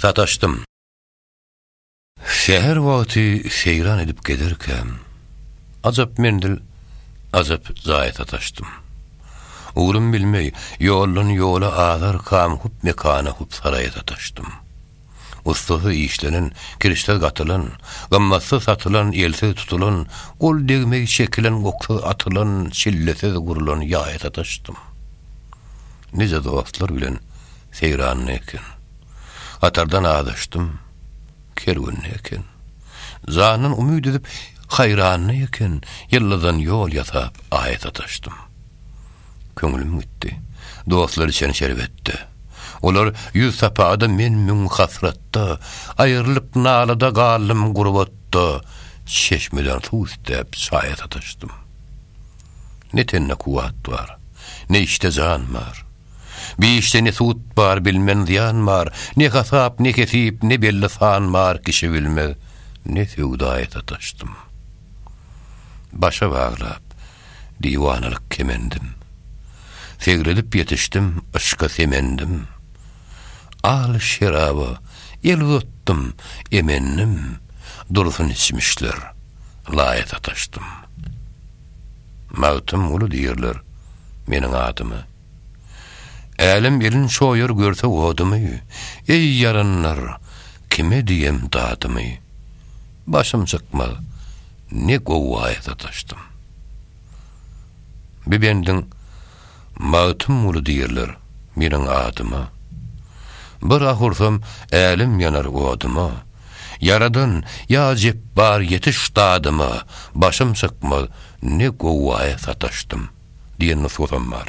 sataşdym. Säher wagty seýran edip gezerkäm, ajap menzil, ajap jaýa sataşdym. Ugrym bilmeý, ýoldan ýola azarkam hup mekana, hup saraýa sataşdym. Ussasy işlenen, kirişsiz gatylan, gymmatsyz satylan, elsiz tutulan, gol degmeý çekilen, oksyz atylan, çillesiz gurlan ýaýa sataşdym. nice dostlar bilen seýranda eken. Gatardan azaşdym, kerwende eken. Jandan umyt edip haýranda eken, ýyldyzdan ýol ýasap aýa sataşdym. Köňlüm gitdi, dostlar içen şerbetde. Olar ýüz sapady men müň hasratda, aýrylyk nalada galdym gurbatda, çeşmeden suw isläp çaýa sataşdym. Ne tende kuwwat bar, ne işde jan bar. Bi işde ne sud bar, bilmen zyýan bar, Ne hasap, ne hesip, ne belli san bar, Kişi bilmez, ne söwdaýa sataşdym. Başa baglap, diwanalyk kemendim, Segredip ýetişdim, yşka semendim. Aly şeraba el uzatdym, emendim, Dursun içmişler, laýa sataşdym. Magtymguly diýerler meniň adyma. Älem elin çoýar görse odumy, Eý ýaranlar, kime diýem dadymy? Başym çykmaz, ne gowaýa sataşdym. Bu bendiň. Magtymguly diýerler meniň adyma. Bir ah ursam, älem ýanar odyma. Ýaradan, ýa Jepbar ýetiş dadyma, Başym çykmaz, ne gowaýa sataşdym. Diýen nusgasam bar.